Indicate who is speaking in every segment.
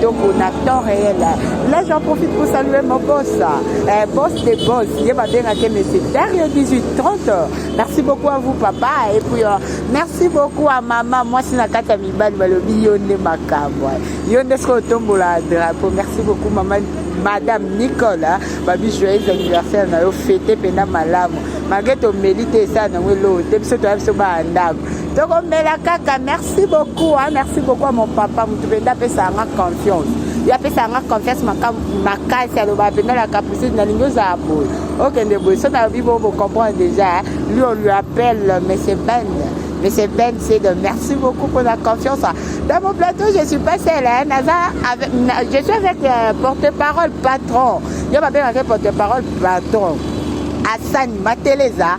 Speaker 1: Toko na temps réel. Là, j'en profite pour saluer mon boss, euh, boss des boss. Il est bien à monsieur Dario 1830. Merci beaucoup à vous, papa. Et puis, euh, merci beaucoup à maman. Moi, c'est Nakata Mibal, Balobi, Yonde Makabo. Yonde Skotombo, la drapeau. Merci beaucoup, maman. madame nicole hein. babi joyeux anniversaire na yo fete mpena malamu malgre tomeli te esala nango eloo te biso toya biso baa ndako tokomela kaka merci beaucoup hein? merci beaucoup à mon papa motu mpenza apesaka nga confiance yo apesaka nga confiance makasi aloba mpenza la capucine nalingi ozala boye okende boye so nalobi bo bocomprendre déjà lui on lui appelle monsieur ben monsieur ben c'est de merci beaucoup pour la confiance dans mon plateau je suis pas seule hein? Naza avec, je suis avec euh, porte-parole patron yo babengaka porte-parole patron asani mateleza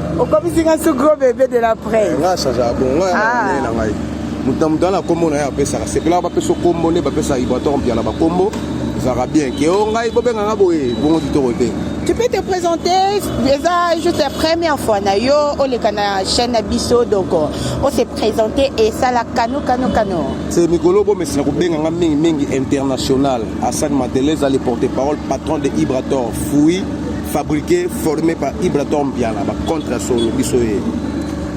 Speaker 2: okomisi nga su
Speaker 1: gros bebe de la presse nga change ya bongo ya ah. na ngai
Speaker 2: moto na moto ana kombo na ye apesaka sepelaka bapesa kombo nde bapesaka ibrator mpiana bakombo ezalaka bien ke o ngai bobenga nga boye bongo kitoko te
Speaker 1: tu peux te présenter eza juste la première fois na yo oleka na chaîne na biso donc ose présenter esala kano kano kano se
Speaker 2: mikolo bomesana kobenga nga mingi mingi international asani madele eza le porte parole patron de ibrator fui fabriquer formé par Ibratom Biala ba contre solo biso ye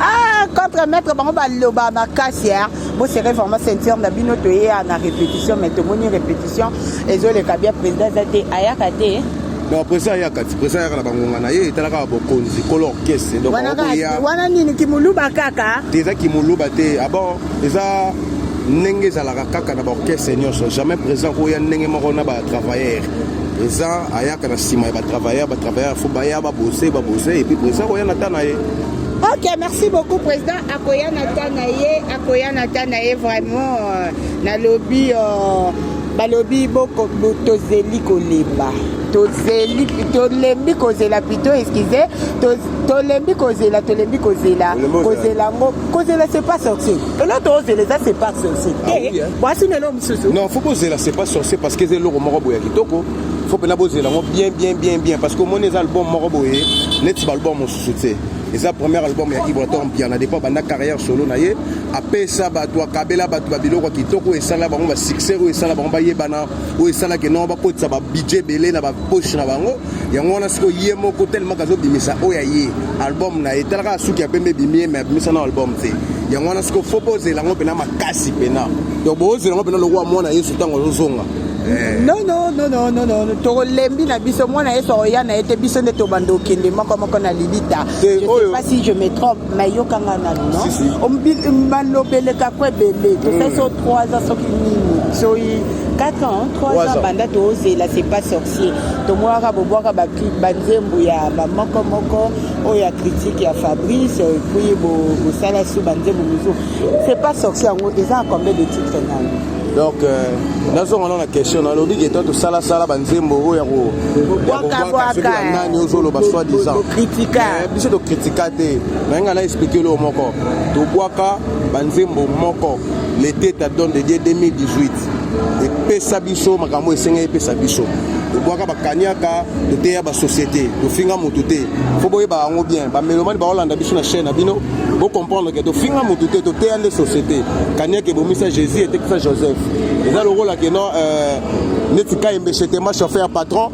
Speaker 2: ah
Speaker 1: contre maître bango baloba makasi hein bo serez vraiment ceinture na bino toye na répétition mais tomoni répétition ezoleka bien président eza te ayaka te donc président
Speaker 2: ayaka ti président ayaka na bangonga na ye etalaka bokonzi kolo orchestre donc wana nini
Speaker 1: kimuluba kaka te eza kimuluba
Speaker 2: te abon ah eza ndenge ezalaka kaka na baorchestre nyonso jamais président koya ndenge moko na batravailleur Président ayaka na sima ya ba travailleurs, ba travailleurs faut baya ba bosser, ba bosser et puis président koya na tana ye. Ok, merci
Speaker 1: beaucoup président. Akoya na tana ye, akoya na tana ye vraiment euh, na lobby euh, balobi boko tozeli kolemba tozeli tolembi kozela pito eskize tolembi kozela tolembi kozela kozela yango kozela c'est pas sorcier eloko tozela eza c'est pas sorcier te ah mwasi nelo Non, faut poser là, c'est pas
Speaker 2: sorcier parce que c'est le moko boya kitoko. Faut pena poser là, bien bien bien bien parce que mon les albums moko boye, net ba album mon soutien. Et ça premier album ya Ibraton bien na départ banda carrière solo na ye, après ça ba toi kabela ba toi biloko kitoko et ça là bango ba succès ou ça là bango ba yebana ou ça là que non ba kotsa ba budget belé na ba poche na bango. Yango wana siko ye moko tellement kazo bimisa oya ye album na ye talaka suki ya pembe bimie mais bimisa na album te. Yango wana siko faut poser là ngo pena makasi pena. donc bozela ngo mpena lokola mwana yesu ntango azozonga eh.
Speaker 1: nononononono tokolembi na biso mwana yesu akoya na ye te biso nde tobanda okende moko moko na lilita jepasi je me trompe mai yokanga nanu no malobeleka ko ebele tosali so 3 ans soki nini soyi 4 ans 3 ans banda tozela c'est pas sorcier tomonaka bobwaka banzembo ya bamoko moko oyo ya critique ya fabrice puis bosala su banzembo mosusu C'est pas sorcier yango eza combien de titres nani donc
Speaker 2: euh, nazonga nao na question nalobi ke to tosalasala banzembo oyo yakoyanani ozoloba soi disant eh,
Speaker 1: biso tokritika
Speaker 2: te naye ngai na explike eloko moko tobwaka banzembo moko lete ta don de dieu 2018 epesa biso makambo esengeli epesa biso tobwaka bakaniaka toteya basociété tofinga moto te fo boyeba yango bien bamelomani bakolanda biso na chaine na bino Bo comprendre que tofinga mutu te toteya nde société kaniaka ebomisa jésus etekisa joseph eza lokola ke non euh, neti kayembe chetema chauffeur patron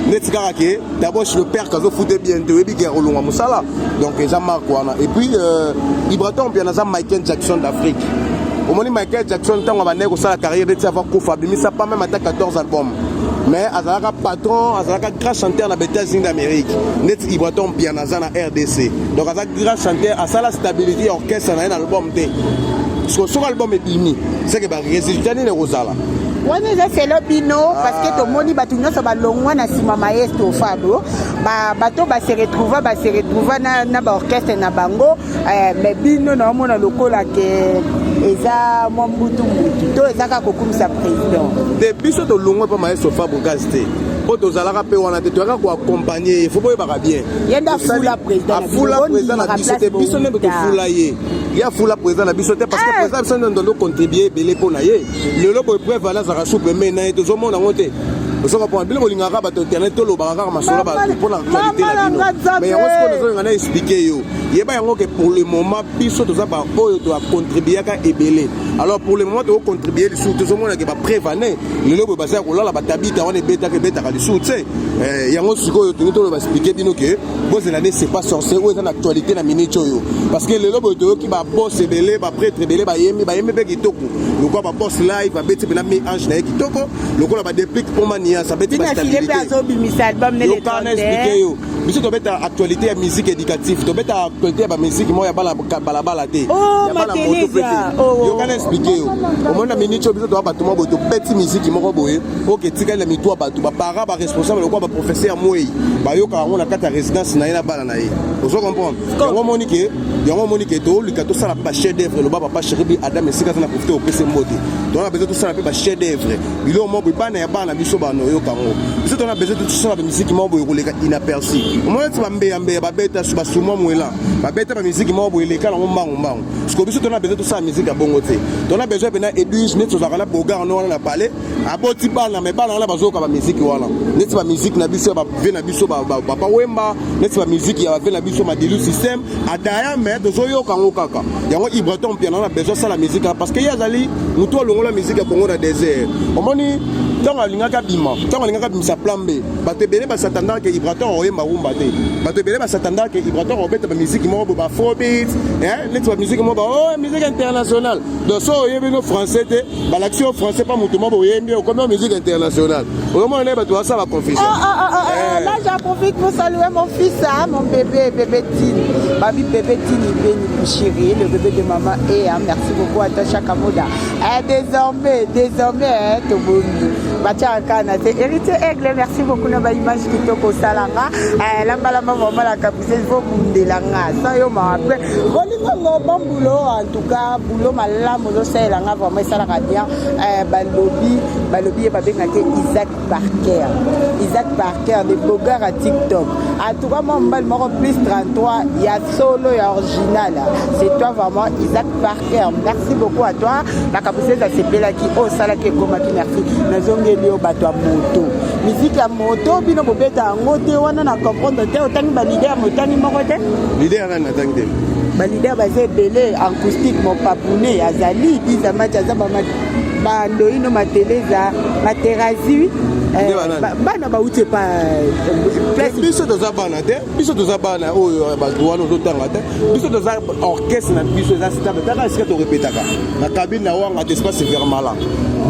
Speaker 2: neti kaka ke daboche le père kazofute bien te oyebi ke akolonga mosala donc eza marque wana et puis euh, ibraton mpiana aza michael jackson d'afrique omoni michael jackson ntango abandaki kosala carrière neti ava kufa abimisa pa meme ata 14 album mais azalaka patron azalaka grand chanteur na ba états-unis d'amérique neti ibraton mpiana aza na rdc donc aza Grand chanteur asala stabilité ya orchestre na ye na album te siko soki album ebimi seke ba résultat nini ekozala wana
Speaker 1: eza selo bino parceke ah. tomoni bato nyonso balongwa na nsima maestro fabro bato base retrouva base retrouva na baorchestre na bango eh, mais bino naomona lokola ke eza mwa mbutu mbutu to ezaka kokumisa président te biso tolongwa
Speaker 2: mpo maestro fabro gaz te mpo tozalaka mpe wana te toyaka koakompagne ye fo boyebaka bien afula
Speaker 1: président na biso te biso
Speaker 2: nde tofula ye ye afula président na biso te parce que eh! président biso nde ndondo contribue ebele mpo na ye lelo boye preuve wana azalaka souple mai na ye tozomona yango te osoka mpona bino bolingaka bato internet tolobaka kaka masolo bato mpo na actualité na bino mais yango sikoyo nazolinga na explike yo yeba yango ke pour le moment biso toza baoyo toacontribuaka ebele alors pour le moment tokocontribue lisusu tozomonake bapreuve ane lelo boye baza ya kolala batabita wana ebetaka ebetaka lisusu tse eh, yango sikoyo tolingi toloba explike bino ke bozela nde c'est pas sorcier oyo eza na actualité na minute oyo parce que lelo boye toyoki babos ebele bapretre ebele bayemi bayemi mpe kitoko lokola babos live babeti mpena mi ange na ye kitoko lokola badeplique mpo manias abeti bastabilitéyokana explike yo biso tobeta actualité ya musique éducative tobeta actualité ya bamusike moko ya balabala te oh, oh, oh. yokana explike yo omoni na minute oyo biso toya bato moko boye tobeti miziki moko boye oke etikali na mitu ya bato baparent baresponsable lokola baprofesseur ya mwei bayokaka yango na kati ya résidence na ye na bana na ye ozo comprendre yango omoni ke yango omoni ke tolika tosala mpe bachef d'œuvre loba papa cheribi adam esika aza na profite opesa mbote tona na bezo tosala mpe bachef d'œuvre biloko moko boye bana ya bana na biso bana oyoka yango biso tona besoin tosala bamiziki moko boye koleka inaperci omona ti bambeyambeya babeta su basumwa mwela babeta bamiziki moko boye eleka nango mbangu mbangu siko biso tona besoin tosala miziki ya bongo te tona besoin mpena edwige neti tozalaka na bogar no wana na palais aboti bana me bana wana bazoyoka bamiziki wana neti bamiziki na biso ya bave na biso papa wemba neti bamiziki ya bave na biso madilu systeme adaya me tozoyoka yango kaka yango ibraton mpiana na besoin asala mizika parce que ye azali motu alongola miziki ya kongo na desert omoni ntango alingaki abima ntango alingaki abimisa plan b bato ebele basatanda ke ibraton akoyemba rumba te bato ebele basatanda ke ibraton akobeta bamiziki moko bo bafrobit neti bamiziki moko ba o oh, miziki international donc so oyebino français te balakisi yo français pa moto moko oyembi okomi o musique internationale oyomona naye bato basala confusion ah, ah, ah, eh. là
Speaker 1: j'en profite pour saluer mon fils hein, mon bébé bébé tini babi bébé tini beni mon chéri le bébé de maman e hein, merci beaucoup atacha kamoda eh, désormais désormais eh, tobomi batia nkana te héritier aigle merci beaucoup na baimage kitoko osala nga eh, lambalamba vraiment la caprise vo bundela nga sa yo mawa mpe bolingo ngo bambulo en tout cas Yo malamu ozosalela nga vraiment esalaka bien eh, balobi balobi ye babengaki isaac parker isaac parker de bogar ya tiktok atuka mwa mobali moko plus 33 ya solo ya original c'est toi vraiment isaac parker merci beaucoup à toi makambo sese asepelaki oyo osalaki ekomaki merci nazongeli yo bato ya moto miziki ya moto bino bobeta yango te wana na comprendre te otangi balider ya motani moko te
Speaker 2: balider baza
Speaker 1: ebele acoustique mopapune azali biza mati aza bandoino mateleza materazi eh, bana bauti epa eh,
Speaker 2: biso toza bana te biso toza bana oyo eh, bato wana ozotanga te biso toza orchestre na biso eza stable taka esika torepetaka na kabine na wanga te espace vermala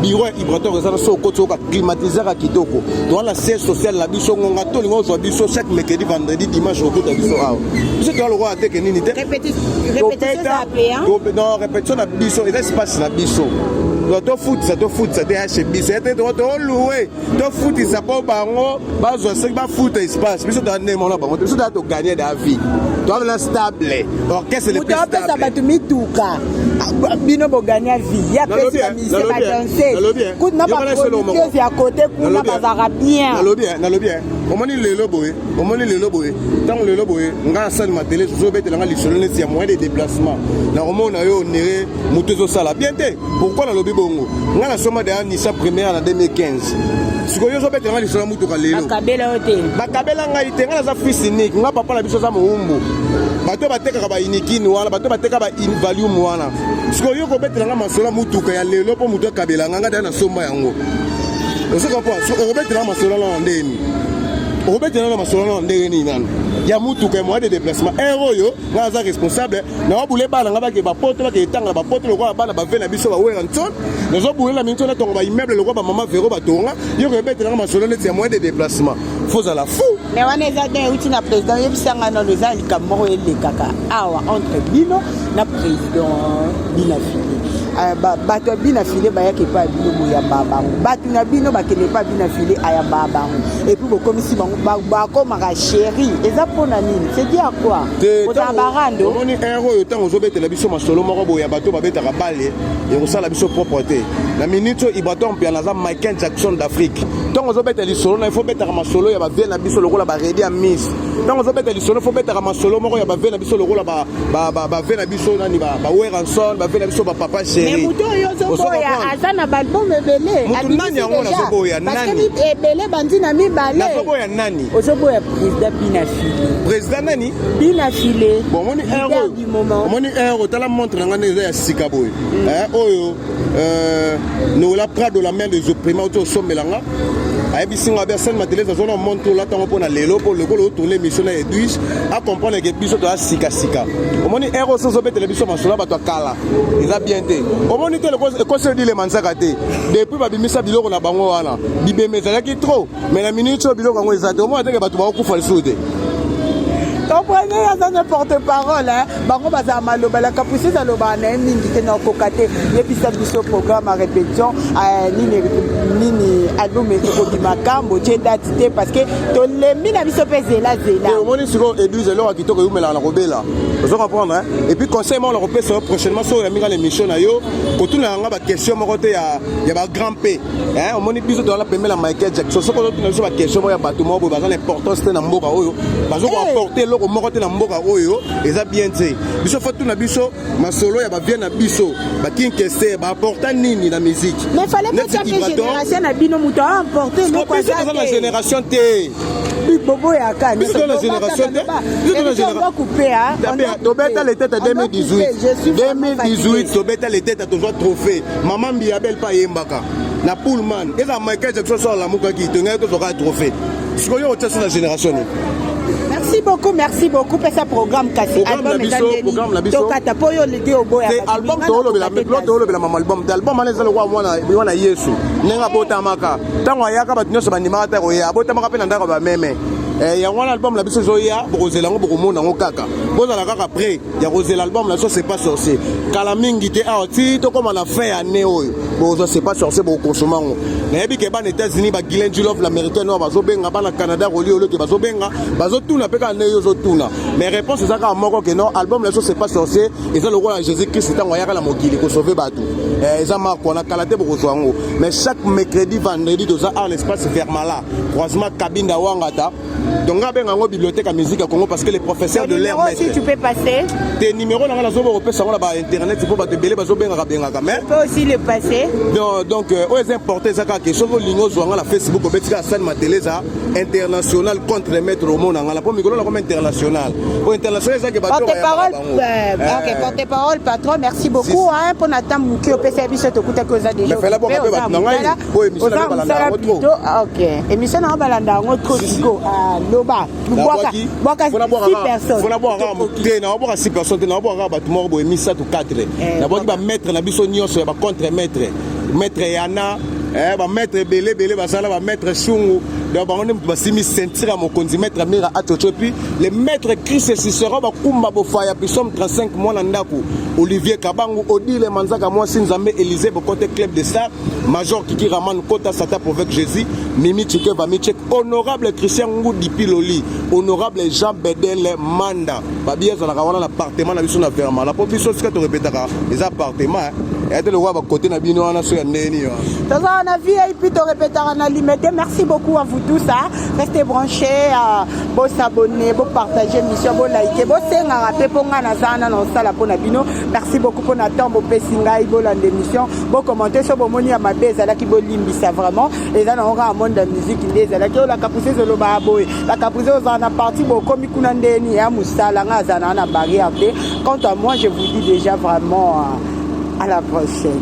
Speaker 2: biro vibratoire eza na so okoti oyoka climatisaka kitoko toza na siège social na biso ngonga to olinga ozwa biso chaque mercredi vendredi dimanche okota biso awa biso toza lokola teke nini te non répétition na biso eza espace na biso tofutisa tofutisa te hashe biso ete toko tolue tofutisa mpo bango bazwa soki bafuta espace biso toa nde mona bango te biso toa toganye da vie toa na stable orchestre le plus stable bato mituka
Speaker 1: bino boganya vie ya badanseuse ya kote kuna bazalaka bien nalobi
Speaker 2: omoni lelo boye omoni lelo boye ntango lelo boye ngai asali matele zozobetela ngai lisolo neti ya moyen de déplacement nakomona yo onere moto ezosala bien te pourkui nalobi bongo ngai nasoma deya nisa première na 2015 sikoyo ozobetela ngai lisolo ya motuka lelo bakabela yo te bakabela ngai te ngai naza fils unique ngai papa na biso aza mowumbu bato batekaka ba unikin wana bato bateka ba invalium wana sikoyo yo kobetela nga masolo motuka ya lelo mpo moto akabela nga nga taya na somba yango ozoka mpo okobetela nga masolo nana ndenge nini okobetela nana masolo nana ndenge nini nana ya motuka ya moyen de déplacement heure oyo nga aza responsable naobule bana nga bake bapoto bake etanga na bapoto lokola bana bave na biso bawela nson nazobulela minso natonga baimmeuble lokola bamama vero batonga yo koyebetela nga masolo neti ya moyen de déplacement fozala fou me wana eza don euti
Speaker 1: na président oyebisa ngai nano eza likambo moko elekaka awa entre bino na président bina fili euh, bato ya bina file bayaka epai ya bino boyambaa bango bato na bino bakende epai ya bina file ayambaa bango epuis bokomisi bango bakomaka sheri eza mpo na nini sedi ya kua kozala barando omoni ere oyo ntango
Speaker 2: ozobetela biso masolo moko boye ya bato babetaka bale ekosala biso propre te na minute oyo ibrator mpiana aza michael jackson d'afrique ntango ozobeta lisolo na ifo obetaka masolo ya bavie na biso lokola baredi ya miss ntango ozobeta lisolo ifo obetaka masolo moko ya bavie na biso lokola bavie na biso nani baweranson bavie na biso bapapa sherimutu oyo
Speaker 1: ozoboya aza na balbum ebele mutu nani yango nazoboya
Speaker 2: nani
Speaker 1: ebele bandi na mibale nazoboya nani ozoboya
Speaker 2: président
Speaker 1: binafile président nani
Speaker 2: binafile
Speaker 1: omoni
Speaker 2: omoni
Speaker 1: heure otala
Speaker 2: montre na ngai nde eza ya sika boye mm. eh, oyo Euh, nola prado la mère des opprima oto osombela nga ayebisi nga bersel mateles azwa na monte olata yango mpo na lelo mpo lokola otole émission na edwige acomprendre ke biso toya sikasika omoni ero oso ozobetela biso masolo ya bato ya kala eza bien te omoni te ekoseli dilema nzaka te depuis babimisa biloko na bango wana bibema ezalaki trop me na minute oyo biloko yango eza te omona teke bato bakokufa lisusu te
Speaker 1: comprene aza na porte parole bango bazala maloba la capucise alobaka na ye mingi te na okoka te yebisa biso programme ya répétition eh, nini nini album ekobima kambo tie date te parce que tolembi na biso mpe zela zela eh, omoni sikoyo église
Speaker 2: eloko ya kitoko eumelaka na kobela ozo comprendre et puis conseil moko nakopesa yo prochainement soki oyambi nga na émission na yo kotuna yanga baquestion moko te ya bagrand p Eh, omoni biso toza na pembe na michael jackson soki ozotuna biso baquestion moko ya bato moko boye baza na importance te na mboka oyo bazo koapporte eh. eloko moko te na mboka oyo eza bien te biso fo tuna biso masolo ya bavie na biso bakinkese baapporta nini na miziki génération
Speaker 1: na bino moto aamporte eloko aza na génération te
Speaker 2: boboyaka tobeta letete 2018 2018 tobeta letete tozwa trophée mama mbiya belle pa ayembaka na pullman eza michael jackson so alamukaki tongaki tozwaka trophée sikoyo otya so na génération nini merci
Speaker 1: beaucoup merci beaucoup pesa programme kasi
Speaker 2: album eza nini tokata mpo yo lidi oboya album toolobela mama album te album wana eza lokola mwana yesu ndenge abotamaka ntango ayaka bato nyonso bandimaka te koya abotamaka mpe na ndako ya bameme eh, yango wana album na biso ezoya bokozela yango bokomona yango kaka bozala kaka près ya kozela album na so c'est pas sorcier kala mingi te awa ti tokóma na fin ya année oyo bokozwa c'est pas sorcier bokokonsoma yango nayebi ke bana états-unis bagilen julove l'américaine oyo bazobenga bana canada koli olo ke bazobenga bazotuna mpe kaka ndenge yo ozotuna mais réponse eza kaka moko ke non album na so c'est pas sorcier eza lokola jésus christ ntango ayaka na mokili kosauve bato eh, eza marko na kala te bokozwa yango mais chaque mercredi vendredi toza ar l'espace vermala croisement kabinda wangata donc nga benga yango bibliothèque ya musique ya congo parce que le professeur de l'air maître tu peux passer
Speaker 1: te numéro na nga
Speaker 2: nazoba kopesa yango na ba internet mpo bato ebele bazobengaka bengaka mais peut aussi le
Speaker 1: passer donc, donc euh, oyo
Speaker 2: eza importe eza kaka ke soki olingi ozwa nga na facebook obeti kaka sani matele eza international contre maître omo na nga na mpo mikolo nakoma international oyo international eza ke batoporte-parole
Speaker 1: euh, euh. patron merci beaucoup mpo na ntango moke opesa biso tokutaki oza déjà fela bonga mpe bato na ngai
Speaker 2: oza mosala pito
Speaker 1: ah, ok émission na yo balanda yango trop siko ah, loba bwaka six personnesnabwakakate
Speaker 2: nabwaka six personne te nabwaka kaka bato moko boye misato 4 eh, nabwaki bamaître na biso nyonso ya bacontre maître maître yana eh, bamaître ebele ebele basala bamaître sungu donc bango nde moto basimi ceinture ya mokonzi maître amira atoco puis le maître christ cicero bakumba bofaya pisome 35 mwana ndako olivier kabangu odile manzaka mwasi nzambe élysée bokote club de star Major Kiki Raman Kota Sata Provec Jésus Mimi Chike Bamichek Honorable Christian Ngudi Piloli Honorable Jean Bedel Manda Babi ezalaka wana na appartement na biso na Verma la po biso sika to repetaka eza appartement ya te lokola bakote na bino wana so ya ndenge nini toza wana
Speaker 1: vip to repetaka na limete merci beaucoup à vous tous hein. restez branchés euh, bo s'abonner bo partager mission bo liker bo sengaka pe po nga na za na na osala po na bino merci beaucoup po na temps bo pesi ngai bolanda émission bo commenter so bomoni ya mabe ezalaki bolimbisa vraiment eza nango kaka monde ya musique nde ezalaki oyo la caprice ezolobaka boye la caprice ozala na parti bokomi kuna ndeni ya mosala ngai azala na na barrière te quant à moi je vous dis déjà vraiment euh, à la prochaine